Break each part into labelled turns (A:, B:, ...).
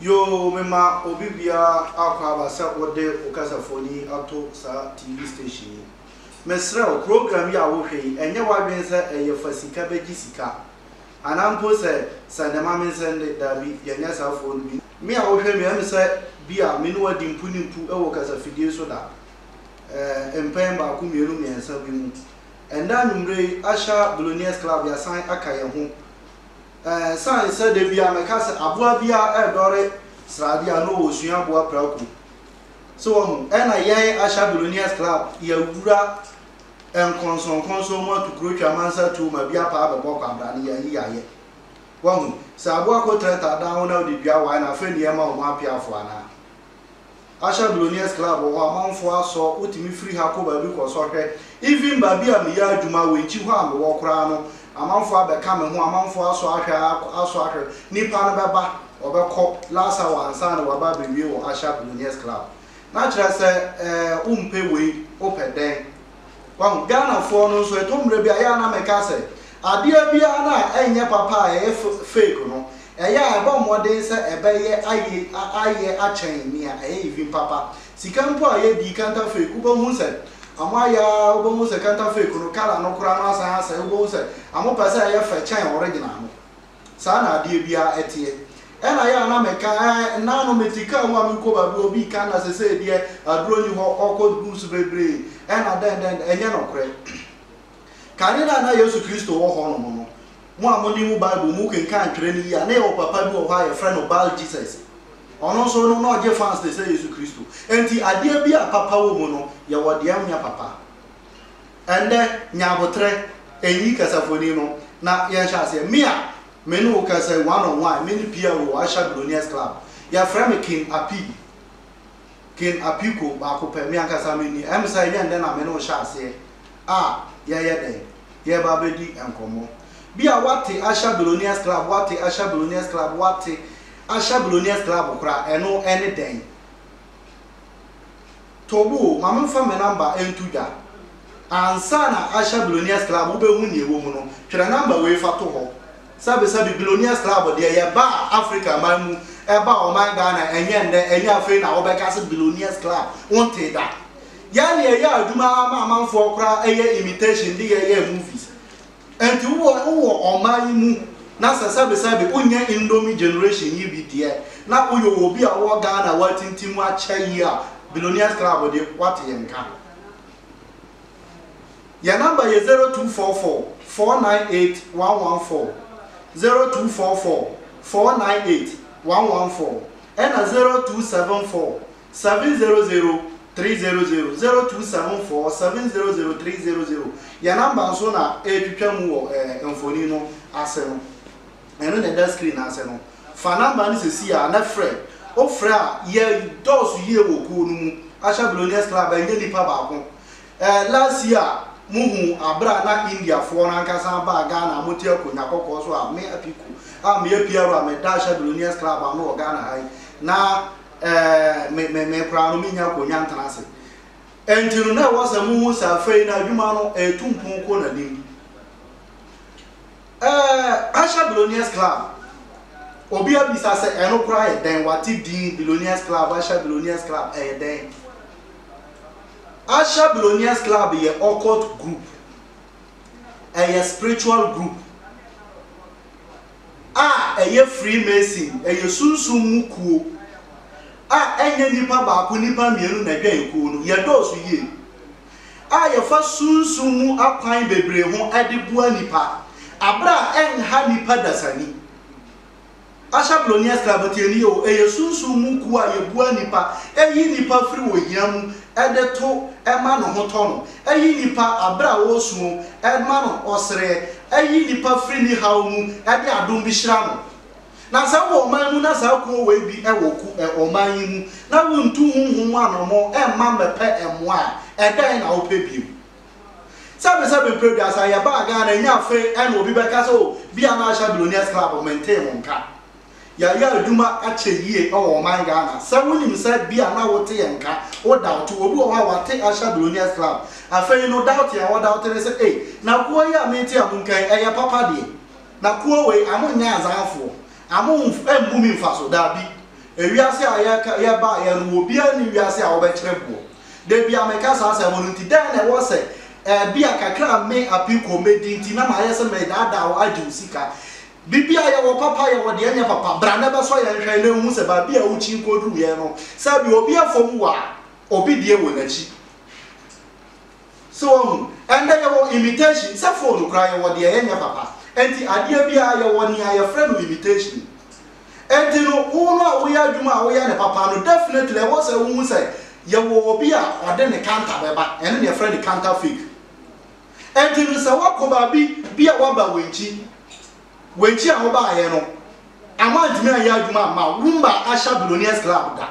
A: Yoo mema obi biara akwaaba sɛ wode wo kasafoni yi ato saa TV station yi. Mesrɛ wo, program yi a wohwɛ yi, ɛnyɛ w'adwene sɛ ɛyɛ fa sika bɛgye sika? Anaa mpo sɛ sɛnde ma me nsɛnde? Daabi, yɛnyɛ saa foɔ no bi. Me a wohwɛ me, ɛm sɛ bi a me ne wo adi mpu ne mpu wɔ kasafidie so da, ɛɛ, mpɛn baako, mmienu, mmiɛnsa bi mu. Ɛnnɛ anwummerɛ yi, Asha Billionaires Club, yɛasan aka yɛn ho. Esiane sɛ da biara mɛka sɛ aboa biara redɔre srade a, na ɔwɔ suaboa prako. So wahu? Ɛna yɛn Asha Billionaires Club yɛawura nkɔnsɔnkɔnsɔn mu ato kuro twa amansa tuo ma bi apa abɛbɔ kwabra no, yɛayi yɛayɛ. Wahu? Sɛ aboa kɔtrɛtrɛ adan ho na wode dua wae no a, afei na yɛma wɔn apeafoɔ anaa? Ahyɛ Billionaires Club wɔ hɔ amanfoɔ asɔ wotumi firi ha kɔ baabi kɔ sɔ hwɛ even baabi a meyɛ adwuma Wenchi hɔ a mewɔ koraa no amanfoɔ abɛka me ho amanfoɔ asɔ ahwɛ asɔ ahwɛ nipa no bɛba ɔbɛkɔ last hour ansa na waba abɛwie wɔ Ahyɛ Billionaires Club na kyerɛ sɛ ɛɛ wompɛ wei wopɛ dɛn Wahu? Ghanafoɔ no nso, ɛtɔ mmerɛ bi a, ɛyɛ a na meka sɛ, adeɛ biara no a ɛnyɛ papa a ɛyɛ fake no, ɛyɛ a ɛbɔ mmɔden sɛ ɛbɛyɛ ayɛ ayɛ akyɛn nea ɛyɛ even papa. Sika mpo a yɛdi, counterfake, wobɛhu sɛ wɔayɛ ara, wobɛhu sɛ counterfake no, colour no koraa no asan asɛe, wobɛhu sɛ wɔpɛ sɛ ɛyɛ fɛ kyɛn original no. Saa na adeɛ biara teɛ. Ɛna yɛ a na meka ɛɛ nna no mete kaa mu a merekɔ baabi hɔ bi ka nna sesei deɛ aduro nni hɔ ɔkɔ gu so bebree ɛna dɛn dɛn ɛnyɛ nɔkorɛ. Kane no a na Yesu Kristo wɔ hɔ nom no mo a mo nim Bible mo kenkan twerɛ no yie a na yɛwɔ papa bi wɔ hɔ a yɛfrɛ no Baal Jesus. Ɔno nso no na ɔgye fans te sɛ Yesu Kristo. Ɛnti adeɛ bi a papa wɔ mu no yɛwɔ deɛ ɛnyɛ papa. Ɛnnɛ, nya aboterɛ, nyi kasafoni no, na yɛnhyɛ aseɛ. Me a me ne wo kasa yi, one on one, me ne Pierre wɔ Usher Billionaires Club. Yɛfrɛ me King Apii. King Apiko, baako pɛ. Me ankasa menni. Ɛm sɛ ɛnyɛ nnɛ na me ne wo hyɛ aseɛ a yɛyɛ dɛn? Yɛreba abɛdi nkɔmmɔ. Bi a woate Usher Billionaires Club, woate Usher Billionaires Club, woate Usher Billionaires Club koraa. Ɛno ne dɛn? Tobu o, ma memfa me namba nto dwa. Ansa na ahyɛ Billionaires Club wobɛhu nea ɛwɔ mu no, twerɛ namba wei fa to hɔ. Sɛbesɛbe Billionaires Club deɛ, yɛbaa Afrika man mu, ɛbaa ɔman Ghana, ɛnyɛ nnɛ, ɛnyɛ afei na wobɛka sɛ Billionaires Club, wontee da. Yɛn deɛ, yɛyɛ adwuma ara ma amanfoɔ koraa yɛ imitation de yɛyɛɛ movies. Ɛnti wo wɔ wo wɔ ɔmaa yi mu na sɛ sɛbi sɛbi wo nyɛ indomie generation yi bi deɛ na wo yɛ obi a wo wɔ Ghana a w'atinti mu akyɛ yie a billionaires club deɛ w'ate yɛn nka. Yɛn number yɛ zero two four four four nine eight one one four zero two four four four nine eight one one four ɛna zero two seven four Seven zero zero three zero zero zero two seven four seven zero zero three zero zero yɛ number nso na ɛretwitwa mu wɔ ɛɛ eh, mfoni no ase no ɛno na ɛda screen ase no fa number no sisi a na frɛ wofrɛ a yɛ dɔɔso yie wɔ kuo no mu ahyɛ billionaires club a ɛnyɛ nipa baako ɛɛ eh, last year mo hu abira na indiafoɔ no ankasa baa ghana mo te akonnwa kɔkɔɔ so a me apiko a meyɛ piaro a meda ahyɛ billionaires club ano wɔ ghana ha yi na me, me, me koraa no mennya akonya ntena ase. Enti no na ɛwɔ sɛ muhu sɛ afei na adwuma no ɛretu mpon kɔ n'anim. Ɛɛ, Asia Billionaires Club, obi abisa sɛ ɛno koraa yɛ dɛn, wate din Billionaires Club, Asia Billionaires Club, ɛyɛ dɛn? Asia Billionaires Club yɛ occult group, ɛyɛ spiritual group. a ɛyɛ Freemason, ɛyɛ sunsum mu kuo a ɛnyɛ nipa baako, nipa mmienu na ɛdwɛn kuo no, yɛdɔɔso yie a yɛfa sunsum mu akwan bebree ho de boa nipa aberɛ a ɛnha nipa dasani. Asha Blonius Club, tie nie o, ɛyɛ sunsum mu kuo a yɛboa nipa, ɛyi nipa firi ohia mu de to ma ne ho tɔ no, Ɛyi nnipa abrɛ a ɔresu mu ma no ɔsere. Ɛyi nnipa firi ne haw mu de adom bi hyira no. Na sɛ wowɔ ɔman mu na saa kuo wei bi wɔ ku ɔman yi mu na wontu honhom mu anammɔn mma mmɛpɛ mmoa a, ɛdɛn na wopɛ bio? Sɛbesɛbe mprɛ aduasa yɛbaa Ghana, ɛnyɛ afei na obi bɛka sɛ oh, bia na Asha Billionaires Club mentee mo nka. Yɛayɛ adwuma akyɛ yie wɔ ɔman Ghana. Sɛ wonim sɛ bi a na wote yɛn nka, wo daote. Obi wɔ hɔ a wate Asha Billionaires Club. Afei no daote a ɔdaote ne sɛ ei, na kuo yi a mete a monka yi, ɛyɛ papa deɛ. Na kuo wei, amo nyɛ azanfoɔ. Amo mmu me mfaso. Daabi. Ewiase a yɛka, yɛbaeɛ no, obiara nni wiase a ɔbɛkyere boɔ. Da bi a meka saa asɛm no nti, dɛn na ɛwɔ sɛ ɛɛ, bi a kakra a me, Apiko, medi nti na mayɛ sɛ meredaadaa wo, agye wo sika. Biribi a yɛwɔ papa yɛwɔ deɛ ɛnyɛ papa bra na bɛsɔ yɛn nhwɛ na nhu sɛ baabi a wokyin kɔduru yɛn no sɛbi obi afom wo a obi deɛ wɔ nakyi so wahu ɛndɛ yɛwɔ imitation sɛ phone koraa yɛwɔ deɛ yɛnyɛ papa ɛnti adeɛ biara yɛwɔ nea yɛfrɛ no imitation ɛnti no wo no a woyɛ adwuma a woyɛ no papa no definitely ɛwɔ sɛ wohu sɛ yɛwɔ obi a ɔde ne kanta bɛba ɛno na yɛfrɛ no kanta fake. Enti no sɛ woakɔ baabi bi a woaba Wenchi, Wenchi a wobaeɛ no, ama antumi anyɛ adwuma amma wo, wommaa Asha Billionaires Club da.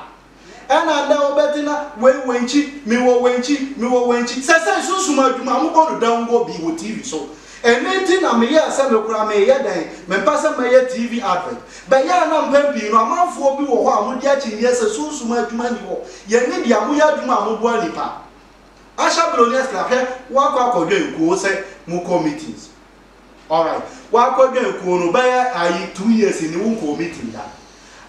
A: Ɛna nnɛ wobɛte na wei Wenchi, mewɔ Wenchi, mewɔ Wenchi. Sɛsɛi sunsum adwuma a wɔbɔ no dawuro bi wɔ TV so. Ɛno nti na meyɛɛ sɛ me koraa meyɛ dɛn, mempɛ sɛ mɛyɛ TV advert. Bɛyɛ a na mpɛn pii no amanfoɔ bi wɔ hɔ a wɔdi akyinnyeɛ sɛ sunsum adwuma nni hɔ. Yɛn ani gye a moyɛ adwuma a moboa nnipa. Asha Billionaires Club hwɛ wakɔ akɔdwɛn kuo sɛ mo kɔ meetings alright wakɔ dwɛn kuo no bɛyɛ ayi two years ni wo nkɔ meeting da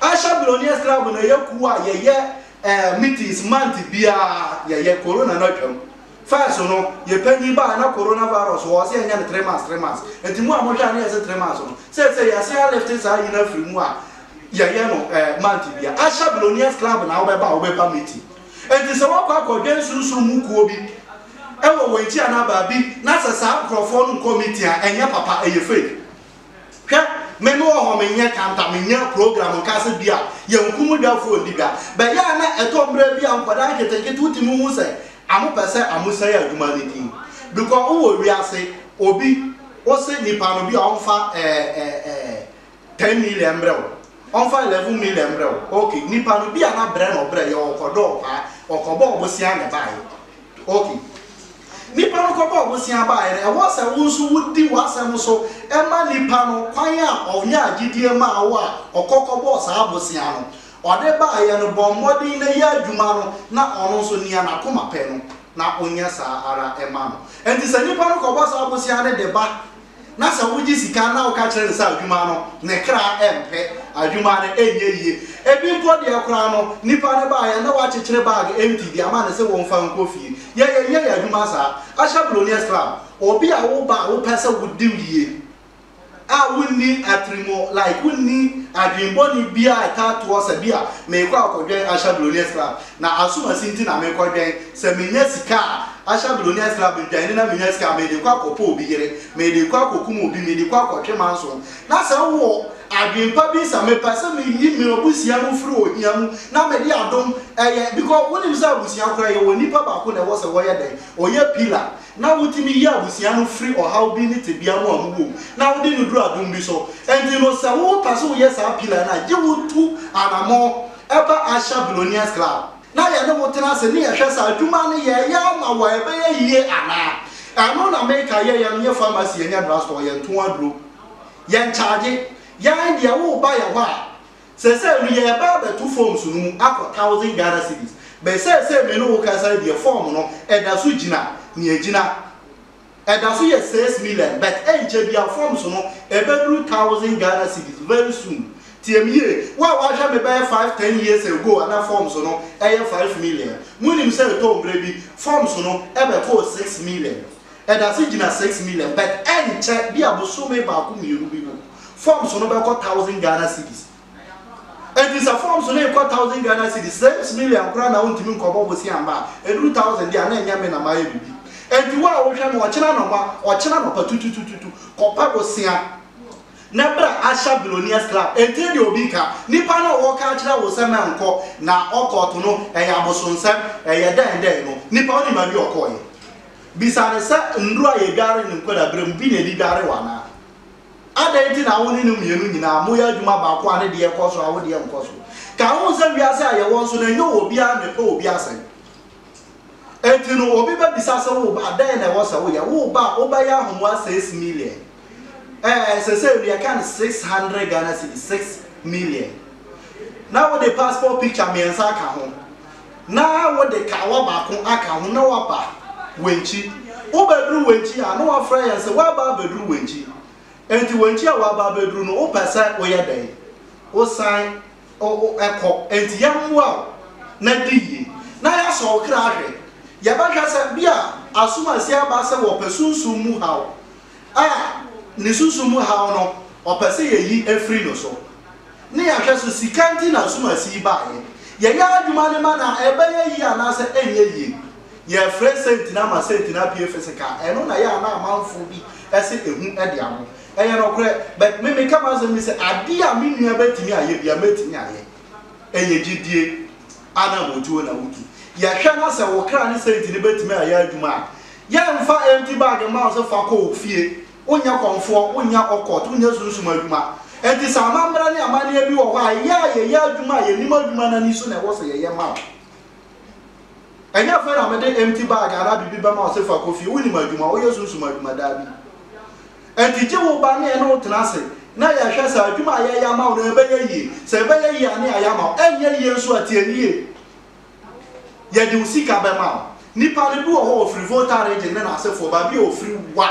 A: Asha Billionaires Club na yɛ kuo a yɛyɛ ɛɛ eh, meetings month biara yɛyɛ corona na twam first no yɛ panyin baa na corona virus wɔ ɔsɛ yɛnyɛ no three months three months nti mu a mohwɛ a ne yɛsɛ three months no sɛ sɛ yɛse alifte saa nyina firi mu a yɛyɛ no ɛɛ eh, month biara Asha Billionaires Club na wobɛba a wobɛba meeting Enti sɛ woakɔ akɔdwɛn sunsum mu kuo bi wɔ wɔn akyi anaa baabi na sɛ saa nkorɔfoɔ no nkɔ meeting a, ɛnyɛ papa, ɛyɛ fake. Hwɛ, me mewɔ hɔ, menyɛ kanta, menyɛ program nka sɛ bi a yɛnkum dwa foɔ ndi dwa. Bɛyɛ a na ɛtɔ mmerɛ bi a nkwadaa nketenkete wotumi hu sɛ wɔpɛ sɛ wɔsɛe adwuma no din. Bikɔ wowɔ wiase, obi, wose nipa no bi a ɔmfa ɛɛ ɛɛ ɛɛ ten million mbrɛ wo ɔmfa eleven million mbrɛ wo ok nipa no bia na brɛ na ɔbrɛ yɛ ɔkɔ dɔ ɔpaa ɔkɔ bɔɔ bosea na ɛbaa yɛ ok nipa no kɔ bɔɔ bosea baa yɛ no ɛwɔ sɛ wo nso wo di w'asɛm so ɛma nipa no kwan a ɔnya agyidie maa wo a ɔkɔ kɔ bɔɔ saa bosea no ɔde baa yɛ no bɔ mmɔden na yɛ adwuma no na ɔno nso nea n'akoma pɛ no na onyɛ saa ara ɛma no ɛnti sɛ nipa no kɔ bɔ saa bosea no de ba. na sɛ wogye sika na woka kyerɛ no sɛ adwuma no, ne kra rempɛ, adwuma no renyɛ yie. Ebi mpo deɛ koraa no, nipa no baeɛ a na wakyekyere bag empty de ama no sɛ wɔmfa nkɔ fie. Yɛn, yɛnyɛ yɛn adwuma saa. Ahyɛ Billionaires Club, obi a woba a wopɛ sɛ wodi no yie a wonni atirimu, like wonni adwene bɔne biara a ɛtaa to wo sa bi a, merekɔ akɔdwɛn Ahyɛ Billionaires Club. Na asomasi nti na mekɔdwɛn sɛ menya sika a ahyɛabroni asra me ntwa, ɛne na menya sika a mede kɔ akɔpɛ obi yere, mede kɔ akɔkum obi, mede kɔ akɔtwe manso. Na sɛ wowɔ adwen pa bi nsa mepɛ sɛ meyi m'abusua no firi ohia mu na mede adom ɛyɛ because wonim sɛ abusua koraa yɛwɔ nipa baako na ɛwɔ sɛ wɔyɛ dɛn? Ɔyɛ pillar na wotumi yi abusua no firi ɔhaw bi ne tebea mu a ɔmo wɔ mu na wode no duru adom bi so. Ɛnti no sɛ wopɛ sɛ woyɛ saa pillar no a gye wo tu anamɔn. Ɛba Asia Billionaires Club na yɛne wo tena ase ne yɛhwɛ sɛ adwuma no yɛyɛ ama wo a ɛbɛyɛ yie anaa. Ɛno na meka, yɛyɛ no yɛ pharmacy yɛnyɛ drugstore, yɛnto aduro, yɛnkyagye. Yɛn deɛ woba yɛ hɔ a, sɛsɛɛ no yɛreba abɛto forms no mu akɔ thousand Ghana cedis, but sɛsɛɛ me ne wo kasa yi deɛ form no ɛda so gyina nea ɛgyina. Ɛda so yɛ six million but ɛnkyɛ biaa forms no ɛbɛduru thousand Ghana cedis very soon. Tie me yie, wo a w'ahwɛ me bɛyɛ five ten years ago a na forms no ɛyɛ five million, monim sɛ ɛtɔɔ mmerɛ bi forms no ɛbɛkɔɔ six million. Ɛda so gyina six million but ɛnkyɛ bia bosome baako mmienu bi no forms no bɛkɔ thousand Ghana cedis. Enti sɛ forms no rekɔ thousand Ghana cedis, sɛ ems million koraa na wontumi nkɔbɔ bosea mma a, eduru thousand deɛ a na ɛnyɛ me na mayɛ biribi. Enti wo a wohwɛ no ɔkyena anɔpa, ɔkyena anɔpa tututututu, kɔpɛ bosea na bra Asha Billionaires Club. Ɛntie deɛ obi reka. Nipa no a wɔreka akyerɛ wo sɛ mɛnkɔ na ɔkɔɔto no, ɛyɛ abosonsɛm, ɛyɛ dɛn dɛn no, nipa wonim baabi a ɔkɔeɛ? Bisa no sɛ nnuro a yɛdware no nkwadaa berɛ mu, bi na ɛde dware wo anaa? Adɛn nti na wo ne no mmienu nyinaa moyɛ adwuma baako a ne deɛ kɔ so a wo deɛ nkɔ so? Kae ho sɛ wiase a yɛwɔ nso no, ɛnyɛ obiara na ɛpɛ obi asɛm. Enti no, obi bɛbisa sɛ wo ba, dɛn na ɛwɔ sɛ woyɛ? Wo ba a, wobɛyɛ ahomoa seis million. Ɛɛ, seesei no yɛka no six hundred Ghana cedis, six million. Na wode passport picture mmiɛnsa aka ho. na wode kawa baako aka ho na woaba Wenchi. Wobɛduru Wenchi a, na wɔafrɛ yɛn sɛ woaba abɛduru Wenchi. Enti Wenchi a woaba abɛduru no, wopɛ sɛ woyɛ dɛn? Wosan kɔ. Enti yɛmmoa wo na di yie, na yɛasɔ wo kra ahwɛ. Yɛbɛhwɛ sɛ bi a asom a asi aba sɛ wɔpɛ sunsum mu haw a ne sunsum mu haw no wɔpɛ sɛ yɛyi firi no so. Ne yɛahwɛ so sika nti na asumasi yi baeɛ. Yɛyɛ adwuma no ma no a, ɛbɛyɛ yie anaasɛ ɛnyɛ yie? Yɛrefrɛ senti no ama senti no apue fisika a, ɛno na ɛyɛ a na amanfoɔ bi se ɛhu de abo. Ɛyɛ nokorɛ, but me meka m'asɛm bi sɛ, adeɛ a me nua bɛtumi ayɛ biara, mɛtumi ayɛ. Ɛyɛ gyedie ananmutuo na wotu. Yɛhwɛ na sɛ wo kra ne senti no bɛtumi ayɛ adwuma a, yɛremfa empty bag mma wo sɛ fa kɔ wo fie. Wonyɛ kɔmfoɔ, wonyɛ ɔkɔt, wonyɛ sunsum adwuma. Enti sɛ amammerɛ ne amanneɛ bi wɔ hɔ a, yɛ a yɛyɛ adwuma a yɛnim adwuma no ani so na ɛwɔ sɛ yɛyɛ ma wo. Ɛnyɛ afei na mede empty bag anaa biribi bɛma wo sɛ fa kɔ fie, wonim adwuma, woyɛ sunsum adwuma, daabi. Enti gye wo ba ne ɛne wo tena ase na yɛhwɛ sɛ adwuma a yɛyɛ ama wo no ɛbɛyɛ yie. Sɛ ɛbɛyɛ yie a ne yɛayɛ ama wo, ɛnyɛ yie nso a tie me yie. Yɛde wo sika bɛma wo. Nipa no bi wɔ hɔ ɔfiri Volta region ne n'asefoɔ, baabi a ɔfiri wa.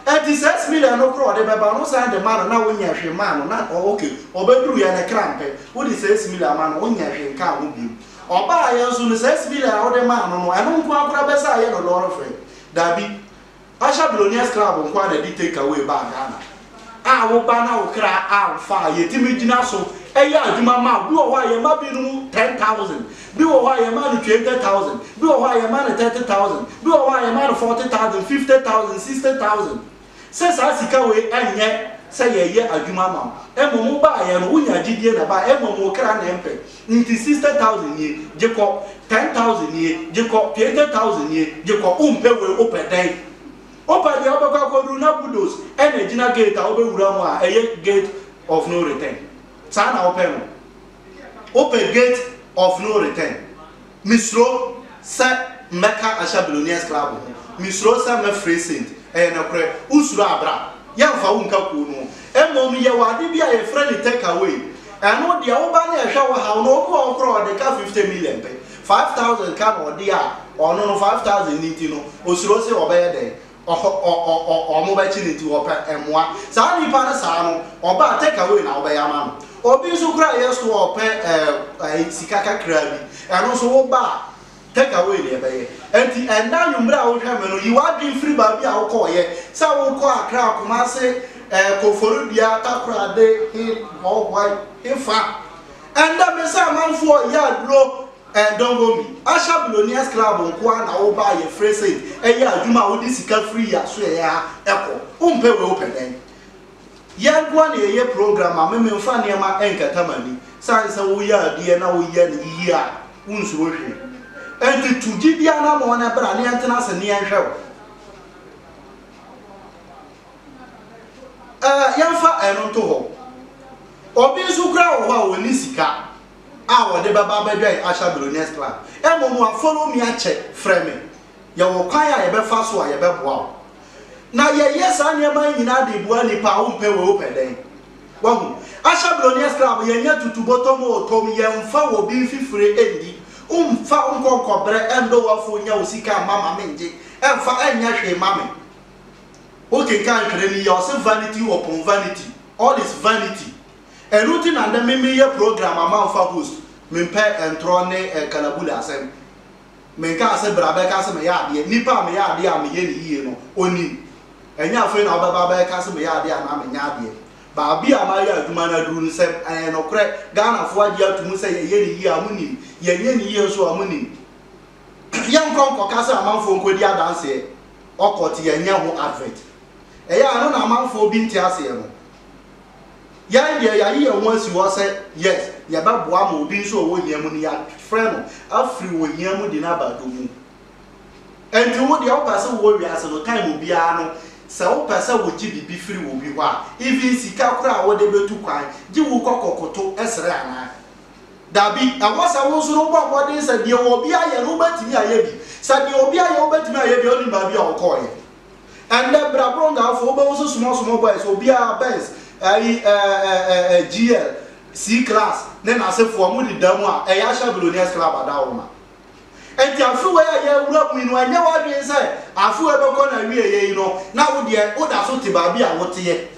A: Ɛnti six million no koraa ɔde bɛba no wosan de ma no na wonyɛ hwee maa no na ɔ ok ɔbɛduruiɛ ne kra mpɛ wode six million ama no wonyɛ hwee nkaa ho biom. Ɔbaeɛ nso no six million a wode maa no no ɛno nkoaa koraa bɛsɛ ayɛ no lɔre fare? Dabi Usher Billionaires Club nkoaa na ɛde take away baa Ghana. A wo ba na wo kra amfa a, yɛtumi gyina so yɛ adwuma ma wo. Bi wɔ hɔ a yɛma binom ten thousand, bi wɔ hɔ a yɛma no twenty thousand, bi wɔ hɔ a yɛma no thirty thousand, bi wɔ hɔ a yɛma no forty thousand, fifty thousand, sixty thousand. Sɛ saa sika wei ɛnyɛ sɛ yɛyɛ adwuma ma wo. Mmom wo baeɛ no, wonya gyidie na baeɛ, mmom wo kra na ɛmpɛ. Nti sista taosen nie gye kɔ tɛn taosen nie gye kɔ tuente taosen nie gye kɔ wo mpɛ wei wo pɛ dɛn wo pɛ deɛ wo bɛkɔ akɔduru na budos ɛna ɛgyina gate a wo bɛ wura mu a ɛyɛ gate of no return saa na wo pɛ no wo pɛ gate of no return Mesuro sɛ mɛka ahyɛ Billionaires Club ho, mesuro sɛ mɛfrɛ Saint. Ɛyɛ nokorɛ, wosuro a bra. Yɛmfa wo nka kuo no ho. Mmom yɛwɔ ade bi a yɛfrɛ no take away. Ɛno deɛ woba ne ɛhwɛ wo haw no, obi wɔ hɔ koraa a ɔde ka 50 million pɛ, 5000 ka na ɔde a, ɔno no 5000 no nti no, osuro sɛ ɔbɛyɛ dɛn? Ɔhɔ ɔ ɔ ɔ wɔbɛkye no nti wɔpɛ mmoa. Saa nipa no saa no, ɔba a take away na wobɛyɛ ama no. Obi nso koraa a ɛyɛ so a ɔpɛ ɛɛ ɛ sika kakraa bi, ɛno nso woba a take away na yɛbɛyɛ. Ɛnti ɛnnɛ anwummere a wohwɛ me no, yi w'adwene firi baabi a wokɔeɛ sɛ wokɔ Accra, Kumasi, ɛɛ Koforidua, Takoradi, he hɔ, why, hefa. Ɛnnɛ me sɛ amanfoɔ reyɛ aduro. Eh dongo me. Usher billionaires club nko ara na wo ba a yɛ frɛ said ɛyɛ adwuma a wo de sika firi yɛ asoɛeɛ ha kɔ. Wo mpɛ wei wo pɛ dɛn? Yɛ nko ara na yɛ yɛ program a me me nfa nneɛma nkata m'ani. Sane sɛ wo yɛ adeɛ na wo yɛ no yie a wo nsuro hwee. Ɛnti tu gye di anamɔn na bra na yɛ ntena ase na yɛ nhwɛ wo. Eh yɛ nfa ɛno nto hɔ. Obi nso koraa wɔ hɔ a ɔnni sika. a wɔde bɛba abɛdwɛn Asha Billionaires Club. Mmom a follow me akyɛ, frɛ me. Yɛwɔ kwan a yɛbɛfa so a yɛbɛboa wo. Na yɛyɛ saa nneɛma yi nyinaa de boa nnipa a wompɛ wei wopɛ dɛn. Wahu? Asha Billionaires Club yɛnyɛ tutu bɔtɔ mu o, tom yɛmfa wɔ bi mfifire nni. Womfa nkɔ nkɔbrɛ ndɔ wo afo nya wo sika mma ma me ngye ɛmfa ɛnyɛ hwee mma me. Wokenkan ntwerɛ no yie a ɔse vanity upon vanity, all is vanity. Ɛno nti na ndɛ me meyɛ program a mannfa host, memmpɛ ntorɔ ne nkalabule asɛm. Mennkaa sɛ bra bɛka sɛ meyɛ adeɛ, nipa a meyɛ adeɛ a meyɛ no yie no, ɔnim. Ɛnyɛ afei na wobɛba abɛka sɛ meyɛ adeɛ anaa menyɛ adeɛ. Baabi a mayɛ adwuma no aduru no, sɛ ɛyɛ nokorɛ, Ghanafoɔ agye ato mu sɛ yɛyɛ no yie a, monim. Yɛnyɛ no yie nso a, monim. Yɛnkɔ nkɔka sɛ amanfoɔ nkɔdi adanseɛ, ɔkɔ te yɛnyɛ ho advert. Ɛyɛ a ɛno na amanfoɔ bi nte aseɛ no. Yɛn deɛ yɛayi yɛn ho asi hɔ sɛ yes yɛbɛboa ma obi nso a ɔwɔ hia mu no yɛafrɛ no afiri ohia mu de no aba dɔ mu. Ɛnti wo deɛ wopɛ sɛ wowɔ wiase no time obiara no sɛ wopɛ sɛ wogye biribi firi obi hɔ a even sika koraa a wode bɛtu kwan gye wo kɔ kɔkoto srɛ anaa? Dabi, ɛwɔ sɛ wo nso no wobɔ mmɔden sɛ deɛ obi ayɛ no wobɛtumi ayɛ bi. Sɛ deɛ obi ayɛ wobɛtumi ayɛ bi a wonim baabi a ɔkɔeɛ. Ɛndɛ bra bro Gaafo wobɛhu so small small boys obiara Benz ayi eh eh GL C-class ne nasefoɔ ɔmo deda mu a ɛyɛ ahyɛ billionaires club adaworoma Ɛnti afe wei a yɛawura mu yi no ɛnyɛ w'adwen sɛ afe wei bɛkɔ n'awieɛ yi no na wodeɛ wodaso te baabi a woteɛ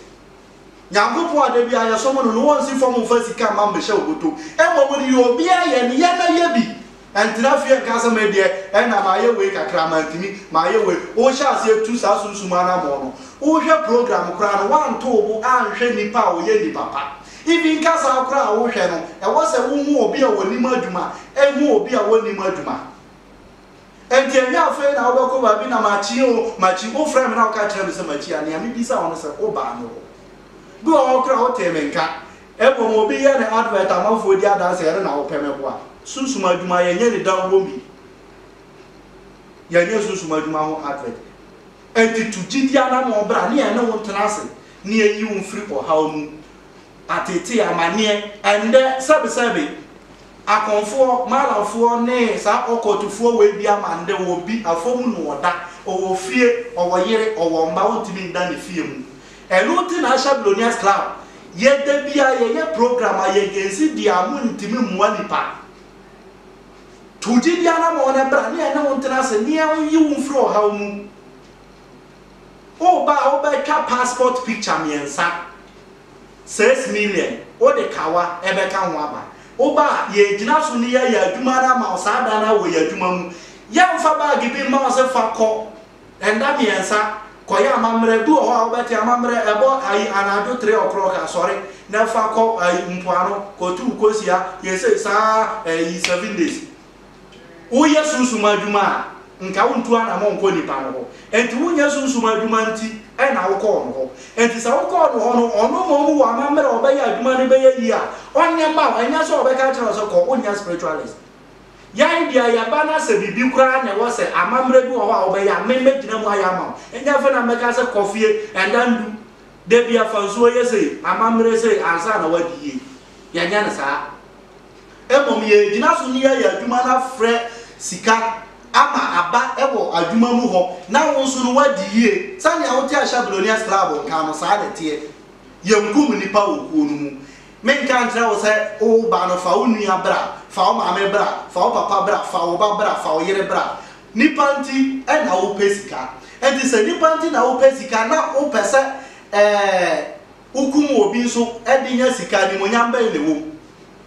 A: Nyankopɔn a da biara yɛsom no no ɔnnsi fam mfa sika mma mmɛhyɛ wo bɔtɔ mu. Mmom deɛ obiara yɛ no, yɛ na yɛ bi. Ɛntena fie nka sɛ me deɛ ɛna mayɛ wei kakra, mantumi, mayɛ wei. Wohyɛ aseɛ tu saa sunsum anammɔn no, wohwɛ program koraa no, woanto wo bo anhwɛ nnipa a wɔyɛ nnipa pa. Even kasaa koraa a wohwɛ no, ɛwɔ sɛ wohu obi a ɔnim adwuma, hu obi a ɔnnim adwuma. Enti ɛnyɛ afei na wobɛkɔ baabi na makyi o, makyi. Wofrɛɛ me na woka kyerɛɛ me sɛ makyi a, nea mebisa wo ne sɛ, wobaa me hɔ? Bi wɔ hɔ koraa a wotee me nka. Mmom obi yɛ ne advert amanfoɔ di adanse ɛno na wopɛ me boa. Sunsum adwuma yɛnyɛ ne da wom bi. Yɛnyɛ sunsum adwuma ho advert. Enti tu gyidi anammɔn bra ne yɛne wo ntena ase na yɛyi wo mfiri ɔhaw mu. Ateetee, amanneɛ, ɛndɛ, sɛbesɛbe, Akonfoɔ, Malamfoɔ ne saa Ɔkɔɔtufoɔ wei bi ama ndɛ ɔwɔ bi afomu na ɔda, ɔwɔ fie, ɔwɔ yere, ɔwɔ mba, ɔntumi nda ne fie mu. Ɛno nti na Asia Billionaires Club yɛ da biara yɛyɛ program a yɛgensi deɛ a montumi mmoa nipa. Tu gyidie anamɔn na bra ne yɛne wo ntena ase ne yɛnyi wo mfiri ɔhaw mu. Woba a wobɛtwa passport picture mmiɛnsa, six million, wode kawa bɛka ho aba. Woba a, yɛregyina so ne yɛayɛ adwuma no ama wo saa da no ara wɔ yɛn adwuma mu. Yɛremfa bag bi mma wo sɛ fa kɔ, nna mmiɛnsa, kɔyɛ amammerɛ. Ebi wɔ hɔ a wobɛte amammerɛ, ɛbɔ ayi anadwo three o'clock a, sɔre na fa kɔ ayi mpoano, kɔtow kosua, yɛ sei saa ara ayi seven days. Woyɛ sunsum adwuma a, nka wontu anammɔn nkɔ nipa no hɔ. Enti wonyɛ sunsum adwuma nti na wokɔ ɔno hɔ. Enti sɛ wokɔ ɔno hɔ no, ɔno mmom wɔ amammerɛ a ɔbɛyɛ adwuma no bɛyɛ yie a, ɔnyɛ mma wo. Ɛnyɛ sɛ ɔbɛka akyerɛ wo sɛ kɔ, wonyɛ spiritualist. Yɛn deɛ, yɛba na sɛ biribi koraa na ɛwɔ sɛ amammerɛ bi wɔ hɔ a wobɛyɛ a, me mɛgyina mu ayɛ ama wo. Ɛnyɛ afei na mɛka sɛ kɔ fie, ɛnda ndu, da biara fa nsuo yɛ sei, amammerɛ sei, ansa na woadi yie. Yɛnyɛ no saa. Mmom yɛregyina so ne yɛayɛ adwuma no afrɛ sika ama aba wɔ adwuma mu hɔ na wo nso no woadi yie. Sɛnea wote a hyɛ Billionaires Club nka no, saa na ɛteɛ. Yɛnkum nnipa wɔ kuo no mu. Menka nkyerɛ wo sɛ wo ba no fa wo nua bra, fa wo maame bra, fa wo papa bra, fa wo ba bra, fa wo yere bra. Nnipa nti na wopɛ sika. Enti sɛ nnipa nti na wopɛ sika na wopɛ sɛ ɛɛ wokum obi nso de nya sika, animuonyam bɛn na ɛwom?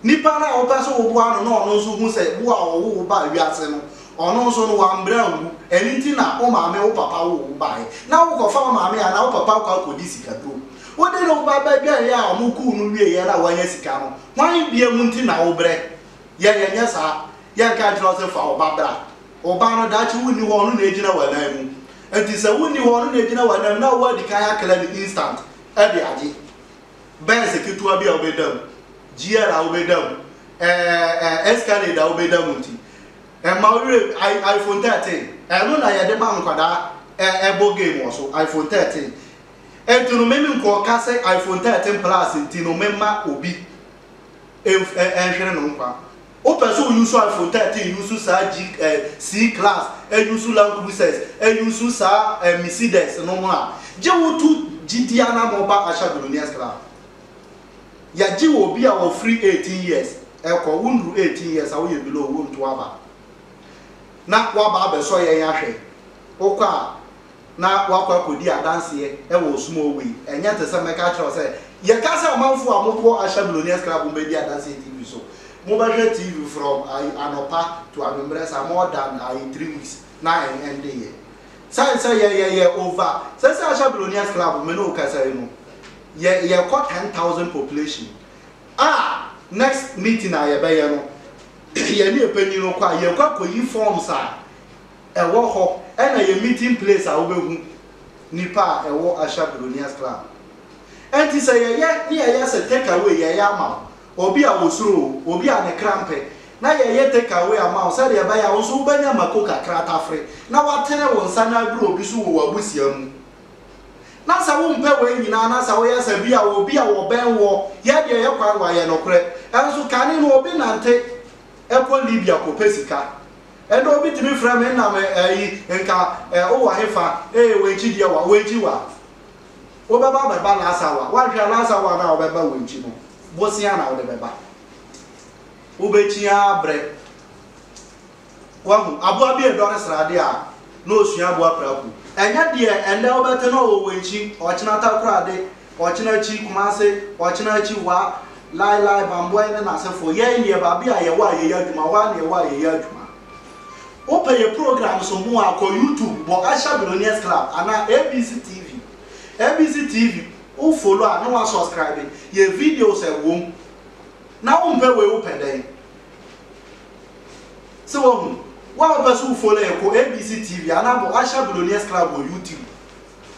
A: Nipa no a wopɛ sɛ woboa no na ɔno nso hu sɛ wo a ɔwoo wo baa wiase no, ɔno nso no, wambrɛ anwu, ɛno nti na wo maame, wo papa woo wo baeɛ, na wokɔfa wo maame anaa wo papa kɔ akɔdi sikaduro. Wode ne ba bɛdwɛeɛ a wɔkuu no wieeɛ no a wanya sika no, hwan biam nti na wobrɛ? Yɛn, yɛnyɛ saa. Yɛnka nkyerɛ wo sɛ fa wo ba bra. Ɔbaa no, daakye wonni hɔ, ɔno na ɛgyina w'anan mu. Enti sɛ wonni hɔ, ɔno na ɛgyina w'anan mu, na wowɔ adi kan akla no instant de agye. Benz ketewa bi a wobɛda mu, GL a wobɛda mu, ɛɛ, ɛɛ, Escalade a wobɛda mu nti, ɛma wo werɛ, I, iPhone 13, ɛno na yɛde ma nkwadaa ɛ, ɛbɔ game wɔ so, iPhone 13. Enti no, meme nkɔka sɛ iPhone 13 Plus nti no memma obi ɛnf, ɛ, ɛnhwere no nkwa. Wo pɛ so use iPhone 13 use saa G eh, C class eh use Land Cruisers eh use saa eh Mercedes no mo a, gye wo tu gyidi anamɔ ba Asha Billionaires Club. Yɛ gye wɔ obi a wɔ firi 18 years ɛkɔ, wo nduru 18 years a wo yɛ below wo nto aba na waba abɛsɔ yɛn ahwɛ. Wo kɔ a na woakɔ akɔdi adanseɛ wɔ ɔsom hɔ wei, ɛnyɛ te sɛ mɛka akyerɛ wo sɛ, yɛka sɛ amanfoɔ a mokɔ Asia Millionaires Club mu bɛdi adanseɛ TV so, mobɛhwɛ TV from ayi anɔpa to anwummerɛ saa more than ayi three weeks na ɛn ɛndeeɛ. Sane sɛ yɛn yɛyɛ over, sɛsɛ Asia Millionaires Club me ne wo kasa yi no, yɛ yɛkɔ ten thousand population a next meeting a yɛbɛyɛ no, yɛne ɛpanin no kɔ a, yɛkɔ akɔyi forms a Ɛwɔ hɔ ɛna yɛ meeting place a wobɛhu nipa a ɛwɔ Asha Billionaires Club. Ɛnti sɛ yɛyɛ ne yɛyɛ sɛ take away yɛyɛ ama wo, obi a ɔsuro o, obi a ne kra mpɛ, na yɛyɛ take away ama wo sɛdeɛ ɛbɛyɛ a wo nso wobɛnya mako kakra tafere na watene wo nsa na aduru obi so wɔ w'abusua mu. Na sɛ wompɛ wei nyinaa na sɛ woyɛ sɛ bi a obi a ɔbɛn woɔ, yɛ deɛ yɛ kwan wayɛ nokorɛ. Ɛnso kane no obi nante kɔ Libya kɔpɛ sika. Ɛnde obi tumi frɛ me nam ɛɛ yi, nka ɛɛ wowɔ hefa? Ee, w'enkyi deɛ wa, w'enkyi wa. Wobɛba abɛba last hour, woanhwɛ a last hour no a wobɛba w'enkyi no, bosea na wode bɛba. Wobɛkyi ara brɛ. Wahu, aboa bi redɔre sradeɛ a, na ɔsua aboa prako. Ɛnyɛ deɛ ɛnnɛ wobɛte no a ɔwɔ w'enkyi, ɔkyenata koraa de, Ɔkyena akyi, Kumase, Ɔkyena akyi, Wa, Lai Lai, Bambɔe ne n'asefoɔ, yɛn deɛ baabi a yɛwɔ a yɛyɛ adwuma, hɔ ara na yɛwɔ a yɛyɛ adwuma. Wopɛ yɛn programs ho a, kɔ YouTube bɔ Asha Billionaires Club anaa ABC TV. ABC TV, wo follow a na wa subscribe, yɛn videos ɛwɔ mu. Na wompɛ wei wopɛ dɛn? Sɛ wahu, wo a wopɛ sɛ wo follow yɛn kɔ ABC TV anaa bɔ Asha Billionaires Club wɔ YouTube.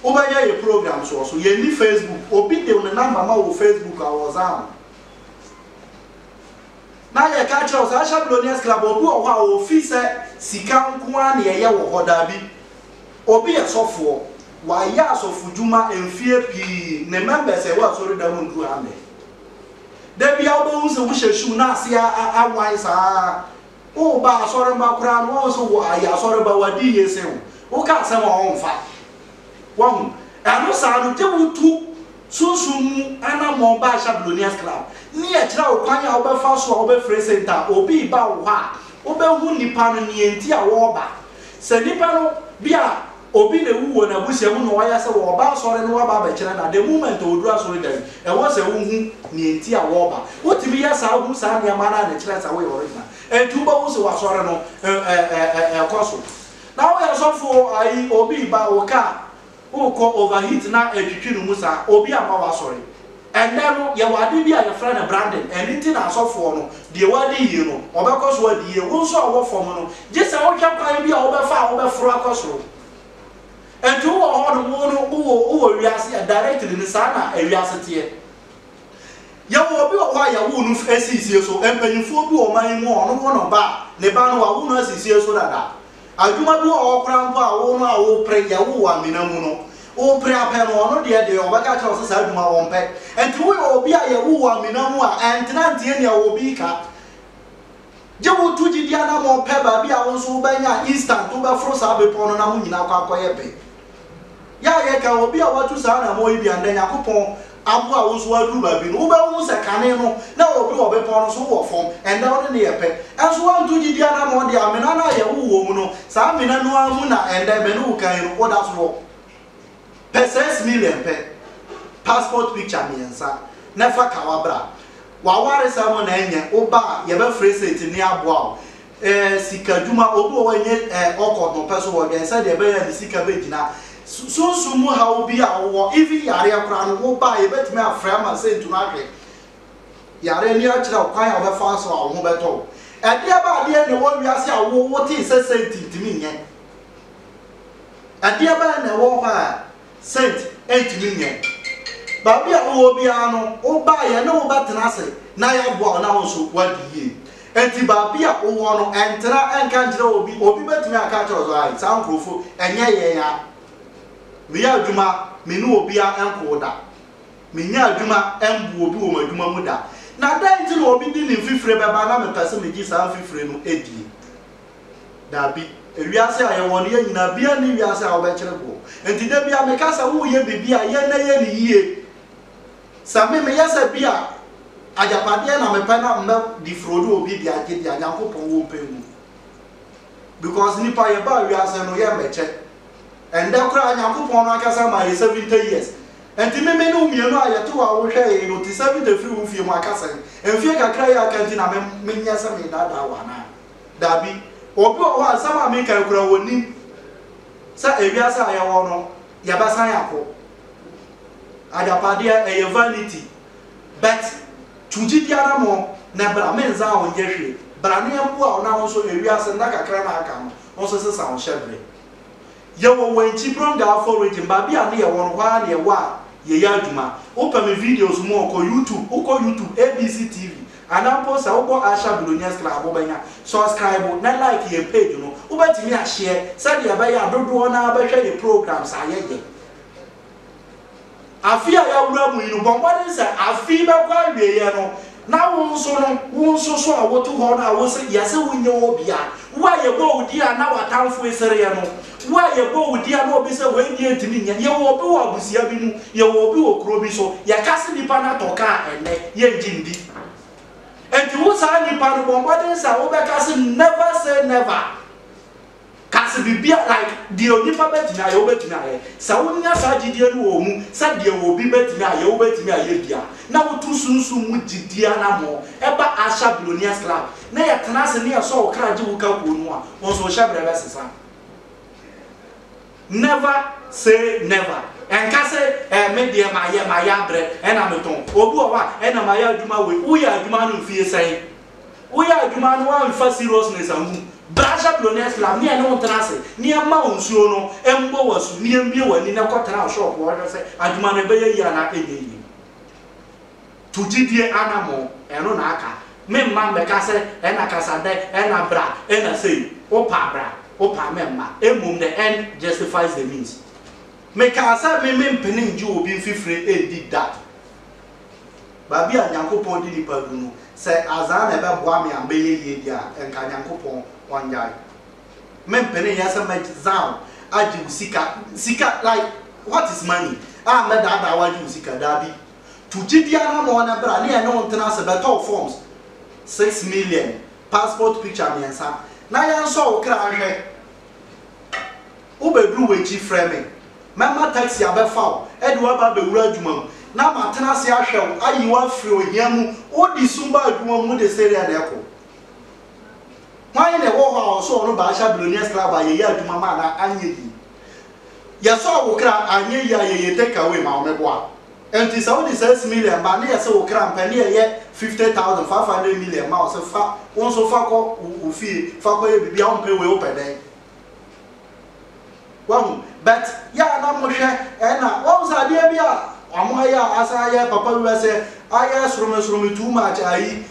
A: Wobɛyɛ yɛ programs wɔ so. Yɛnni Facebook. Obi de ne number ma wo wɔ Facebook a, wɔsan wo. Na yɛka akyerɛ wo sɛ Ahyɛ Billionaires Club a, obi wɔ hɔ a ofi sɛ sika nko ara na ɛyɛ wɔ hɔ. Dabi. Obi yɛ sɔfoɔ. Wayɛ asɔfodwuma mfeɛ pii. Ne members a ɛwɔ asɔredan mu nnuru 100. Da biara wobɛhu sɛ wohyɛ shoe na ase awan saa ara. Woba asɔremba koraa no, wɔn so wɔayɛ asɔremba, wɔadi yie sen wo. Woka asɛm a, wɔmfa. Wahu? Ɛno saa no, gye wotu sunsum mu anamɔn ba Shablonians Club, ne yɛkyerɛ wo kwan a wobɛfa so a wobɛfrɛ senta a obi reba wo hɔ a, wobɛhu nnipa no, nea enti a wɔreba. Sɛ nnipa no bi a. Obi na ewu wɔ n'abusua mu na ɔayɛ a sɛ wɔreba asɔre no wɔaba abɛkyerɛ no a, the moment a odur asɔre dan mu, ɛwɔ sɛ wohu nea enti a wɔreba. Wotumi yɛ saa hu saa nneɛma no a na ɛkyerɛ sɛ woyɛ original. Enti wubehu sɛ w'asɔre no ɛrekɔ so. Na woyɛ sɔfo o, ayi, obi reba, wo car rekɔ overheat na ɛretwitwi no mu saa, obi amma w'asɔre. Ɛnnɛ no, yɛwɔ ade bi a yɛfrɛ no branding. Ɛno nti na asɔfoɔ no, deɛ wadi yie no, ɔbɛkɔ so adi yie. Wo nso a wowɔ fam no, gye sɛ wohwɛ kwan bi a wobɛfa a wobɛforo akɔ soro. Enti wowɔ hɔnom, wo no, wowɔ, wowɔ wiase a, directly no, saa na ewiase teɛ. Yɛwɔ obi wɔ hɔ a yɛwoo no asiisie so. Mpanimfoɔ bi wɔ ɔman yi mu a, ɔno wo no ba a, ne ba no, wɔawo no asiisie so dada. Adwuma bi wɔ hɔ koraa mpo a wo no a worepere yɛ, wowɔ amena mu no, worepere apɛ no, ɔno deɛ deɛ ɔbɛka akyerɛ wo sɛ saa adwuma ɔmpɛ. Enti woyɛ obi a yɛ wowɔ amena mu a, ɛntena nteɛ nea obi reka. Gye wo to gyidi anammɔn pɛ baabi a wo nso wobɛnya instant wobɛforo saa bepɔ no na mo nyinaa akɔ akɔyɛ pɛ. Yɛ a yɛka obi a watu saa anammɔn yi bi a, nnɛ Nyankopɔn aboa wo nso woaduru baabi no, wobɛhu sɛ kane no na obi wɔ bepɔw no so, wowɔ fam. Ɛnnɛ wo ne no yɛ pɛ. Nso woantu gyidi anammɔn de amena no a yɛwoo wo wɔ mu no, saa amena no ara mu na ɛnnɛ me ne wo kan yi no, woda so wɔ. Pɛ six million pɛ, passport picture mmiɛnsa, na fa ka w'abra. W'awaresɛm na ɛnyɛ wo ba a yɛbɛfrɛ sɛ enti ne aboa wo. Ɛɛ sika dwuma, obi wɔ hɔ ɛnyɛ ɛɛ ɔkɔ no pɛ so ɔdwɛn sɛ deɛ ɛbɛyɛ a ne sika bɛ gyina. Sunsum mu haw bi a wowɔ, even yareɛ koraa no wo ba a yɛbɛtumi afrɛ ama saint no ahwɛ yareɛ no akyerɛ wo kwan a wobɛfa so a wo ho bɛtɔ wo. Ɛdeɛ bɛn adeɛ na ɛwɔ wiase a wo wotee sɛ saint ntumi nyɛ? Ɛdeɛ bɛn na ɛwɔ hɔ a Saint ntumi nyɛ. Baabi a wowɔ biara no, wobaeɛ yɛne wo bɛtena ase na yɛaboa wo na wo nso woadi yie. Enti baabi a wowɔ no, ntena nka nkyerɛ obi. Obi bɛtumi aka akyerɛ wo sɛ, Ae, saa nkurɔfo, ɛnyɛ yɛn a meyɛ adwuma me ne obiara nkoo da. Menyaa adwuma mbu obi wɔ m'adwuma mu da. Na dɛn nti na obi de ne mfifire bɛba na mepɛ sɛ megye saa mfifire no die? Dabi. Wiase a yɛwɔ no, yɛn nyinaa, biara nni wiase a wobɛkyere boɔ. Enti da biara meka sɛ woreyɛ biribi a, yɛ na yɛ no yie. Sɛ me, meyɛ sɛ bi a agyapadeɛ na mepɛ na mɛdi frodo wɔ bi de agye deɛ a, Nyankopɔn wɔ mpɛ mu. Because nnipa yɛbaa wiase no, yɛ mmɛkyɛ. Ɛndɛ koraa Nyankopɔn no ankasa maa yɛ 70 years. Enti me me ne wo mmienu a yɛte hɔ a wohwɛ yɛn yi no, te 70 firi wo fie mu, aka sɛn? Mfeɛ kakra yi a aka nti na me, menyɛ sɛ meredaadaa wo anaa? Dabi. Obi wɔ hɔ a nsɛm a mereka yi koraa ɔnnim sɛ ewiase a yɛwɔ no yɛbɛsan akɔ. Agyapadeɛ ɛyɛ vanity. But tu gyidie anammɔn na bra menzan wo nyɛ hwee. Bra na yɛmboa wo na wo nso ewiase nna kakra no a aka no wo nso sesa wo hyɛbrɛ. Yɛwɔ Wenchi Brong-Ahafo region, baabi a ne yɛwɔ no, hɔ ara na yɛwɔ a yɛyɛ adwuma. Wopɛ me videos mu a, kɔ YouTube, wokɔ YouTube, ABC TV, anaa mpo sɛ wokɔ Asha Billionaires Club wobɛnya. Subscribe na like yɛn page no, wobɛtumi a share sɛdeɛ ɛbɛyɛ a dodoɔ no ara bɛhwɛ yɛn programs a yɛyɛ. Afe a yɛawura mu yi no, bɔ mmɔden sɛ afe yi bɛkɔ awieeɛ no, na wo nso no, wo nso so a wote hɔ no a wose yɛse wo nyɛ obia, wo a yɛbɔɔ wo din a na w'atamfo resereɛ no, wo a yɛbɔɔ wo din a na obi sɛ wei deɛ ntumi nyɛ, yɛwɔ obi wɔ abusua bi mu, yɛwɔ obi wɔ kuro bi so, yɛka se nipa no atɔ ka a ɛnnɛ yɛngye ndi. Enti wo saa nipa no, bɔ mmɔden sɛ wobɛka se never say never. Ka sɛ biribiara, like deɛ onipa bɛtumi ayɛ, wobɛtumi ayɛ. Sɛ wonya saa gyidie no wɔ wo mu sɛ deɛ obi bɛtumi ayɛ, wobɛtumi ayɛ bi a, na wotu sunsum mu gyidie anammɔn. Ɛba Usher Billionaires Club na yɛtena ase na yɛsɔ wo kra gye wo ka kuo no a, wo nso wo hyɛberɛ bɛsesa. Never say never. Ɛnka sɛ, ɛɛ me deɛ mayɛ, mayɛ abrɛ, ɛna metɔn. Obi wɔ hɔ a, ɛna mayɛ adwuma wei. Woyɛɛ adwuma no mfeɛ sɛn? Woyɛ adwuma na woamfa seriousness angu mu, bra Jablonès Flam ne yɛne wo ntena ase na yɛmma wo nsuo no mmɔ wo asu na yɛmbue w'ani na kɔtena wo shop hɔ hwɛ sɛ adwuma no ɛbɛyɛ yie anaa ɛnyɛ yie. Tu gyidie anamɔn, ɛno na aka. Memma mmɛka sɛ ɛna kasa dɛ, ɛna bra, ɛna sei. Wopɛ a bra, wopɛ a mɛmma. Mmom the end justifies the means. Mekaa sɛ me mempene ngye obi mfifire ndi da. Baabi a Nyankopɔn de nipa du no, sɛ adzaa na ɛbɛboa me a mɛyɛ yie deɛ a, nka Nyankopɔn ɔngyae me mpene yɛ sɛ mɛdza wo agye wo sika, sika like what is money a mɛdaadaa wo agye wo sika, daabi, tu gyedie ara ma ɔnɛ bra ne yɛne wo ntena ase bɛtɔ wo forms six million, passport picture mmiɛnsa na yɛnsɔ wo kra nhwɛ. Wobɛduru w'akyi frɛ me. Mɛma taksi abɛfa wo de wo aba abɛwura adwuma mu, na matena ase ahwɛ wo, ayi wo afiri ohia mu. Wode sum baa adwuma mu, wode sereɛ na ɛkɔ. Hwan na ɛwɔ hɔ a ɔsɔɔ ɔno Baasha billionaire sclava a yɛyɛ adwuma maa no a anyɛ yie? Yɛsɔɔ wo kra a anyɛ yie a yɛyɛ take away ma wo, meboa. Ɛnti sɛ wode six million ba a ne yɛse wo kra mpɛ ne yɛyɛ fifty thousand, five hundred million ma wo se fa, wo nso fa kɔ wo fie, fa kɔyɛ biribi a wompɛ wei wopɛ dɛn? Wahu? But yɛ a na mo hwɛ ɛna wahu sɛ adeɛ bi a ɔmo ayɛ a asan ayɛ papa wura sɛ ayɛ soromi soromi too much ayi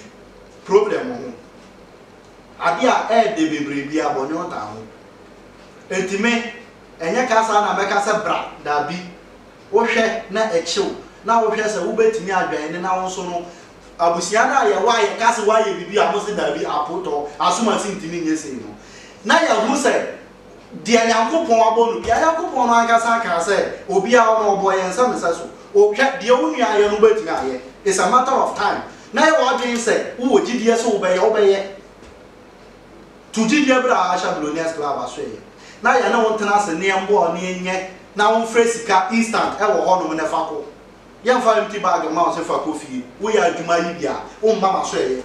A: problem ho. Adeɛ a ɛɛde bebree bi a bɔne ɔtaa ho. Enti me ɛnyɛ kasa na mɛka sɛ bra daabi. Wo hwɛ na ɛkyew na wo hwɛ sɛ wo bɛtumi adwɛn ne na wo nso no Abusua no a yɛwɔ a yɛka se woayɛ biribi a mose daabi, apootɔ, asomansin ntumi nyɛ sei no, na yɛahu sɛ deɛ Nyankopɔn abɔ no biara, Nyankopɔn no ankasa akaa sɛ obiara no ɔbɔ yɛn sɛ mesɛ so, hwɛ, deɛ wo nua ayɛ no wobɛtumi ayɛ, it's a matter of time, na yɛ w'adwene sɛ wowɔ gyidie sɛ wobɛyɛ, wobɛyɛ. To gyidie berɛ a Aisha Millionaires Club asoɛeɛ na yɛne wo ntena ase ne yɛmmɔ ne yɛnyɛ na womfrɛ sika instant ɛwɔ hɔnom ne fa kɔ. Yɛmfa empty bag mma wo sɛ fa kɔ fie. Woyɛ adwuma yi bi a, womma m'aso ɛyɛ.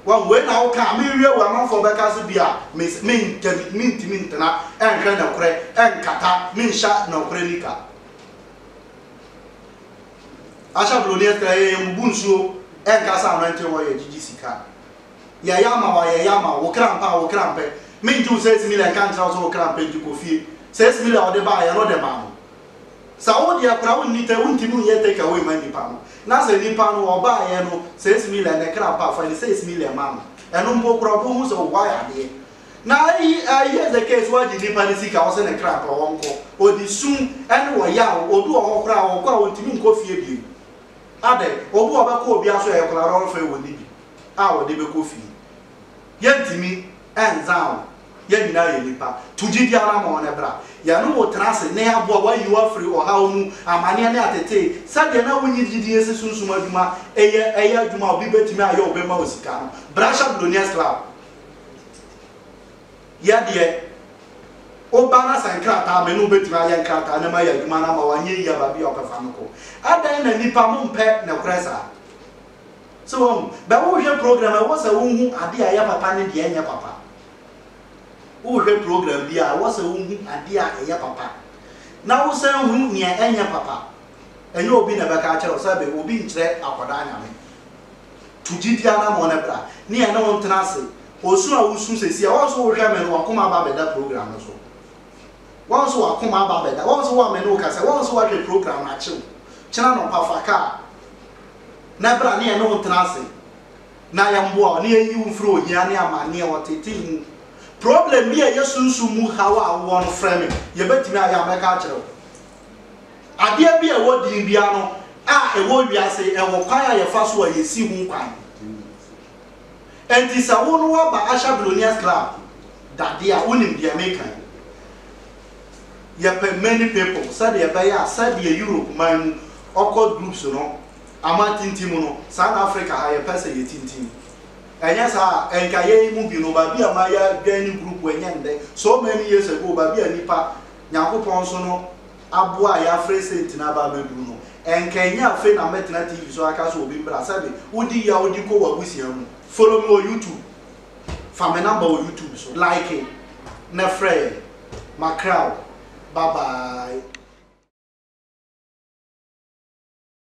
A: Wahu, wei na woka a, menwie wɔ amanfoɔ bɛka sɛ bi a mes, mentɛmi, mentumi ntena ɛnhwɛ nɔkorɛ, ɛnkata, menhyɛ nɔkorɛ nika. Asha Broni Esther yɛ yɛn bubu nsuo ɛnka sɛ anointing oil gyigyi sika. Yɛyɛ ama wo a, yɛyɛ ama wo. Wo kra mpɛ a, wo kra mpɛ. Mengye wo six million nka nkyerɛ wo sɛ wo kra mpɛ nti kɔ fie. Six million a wode baeɛ no, wode maa no. Sɛ wo deɛ koraa wonni tɛ wontimi nyɛ take away ma nipa no na sɛ nipa no ɔbaeɛ no six million ne kra pa fa ne six million ma no ɛno mpo koraa ɔbɛhu sɛ ɔwɔ ayadeɛ na here's the case wagye nipa no sika ɔse ne kra pa ɔnkɔ ɔde sum ɛne ɔyaw obi wɔ hɔ koraa ɔkɔ a ɔntimi nkɔ fie bio adɛ obi wɔ bɛkɔ obi aso ɛyɛ koraa ɔrefɛ wɔ ne bi a ɔde bɛkɔ fie yɛntimi ɛnza wo Yɛn nyinaa yɛ nnipa. To gyidi ara ma wɔn bra. Yɛne wo tena ase na yɛaboa wo ayi wo afiri ɔhaw mu, amaneɛ ne atetee. Sɛdeɛ na wonnye gyidie nsi sunsum adwuma yɛ ɛyɛ adwuma a obi bɛtumi ayɛ a ɔbɛma wo sika no, bra Shablonians Club yɛ deɛ. Woba na sɛ nkrataa a me ne wo bɛtumi ayɛ nkrataa na mayɛ adwuma no ama wo anyɛ yie a baabi a wopɛ fa no kɔ. Adɛn na nnipa mompɛ nokorɛ saa? So woahu? Bɛ wohwɛ program a, ɛwɔ sɛ wohu adeɛ a ɛyɛ papa ne deɛ ɛnyɛ papa. Wohwɛ program bi a, ɛwɔ sɛ wohu adeɛ a ɛyɛ papa na wosan hu nea ɛnyɛ papa. Ɛnyɛ obi na ɛbɛka akyerɛ wo, sɛbe obi nkyerɛ akwadaa Nyame. Tu gyidie anammɔn no bra ne yɛne wo ntena ase. Osu a wosu seesei a, woahu sɛ wohwɛ me no, w'akoma aba abɛda program no so? Woahu sɛ w'akoma aba abɛda? Woahu sɛ wo a me ne wo kasa yi, woahu sɛ woahwɛ program no akye wo? Kyena anɔpa fa kaa. na bra ne yɛne wo ntena ase na yɛmboa wo na yɛyi wo mfiri ohia ne amanneɛ a wɔtetee mu. Problem bi a ɛyɛ sunsum mu haw a wowɔ no frɛ me, yɛbɛtumi ayɛ a mɛka akyerɛ wo. Adeɛ bi a ɛwɔ din biara no a ɛwɔ wiase ɛwɔ kwan a yɛfa so a yɛsi ho kwan. Ɛnti sɛ wo no woaba Asha Billionaires Club dadeɛ a wonim deɛ meka yi. yɛpɛ many people sɛdeɛ ɛbɛyɛ a sɛdeɛ Europe man mu ɔkɔ groups no ama tintim mu no saa na Africa ha yɛpɛ sɛ yɛtintim ɛnyɛ saa a ɛnka yɛn mu bi no baabi a ma yɛadwɛn ne group ɛnyɛ ndɛ so many years ago baabi a nipa Nyankopɔn so no aboa a yɛafrɛ sɛ ntina aba abɛduru no ɛnka ɛnyɛ afei na mɛtena TV so aka sɛ obi mbra sɛbe wodi yɛ a wodi kɔ w'abusua mu follow me wɔ YouTube Fa me number wɔ YouTube so like na frɛ yɛn. Makra wo. Bye bye.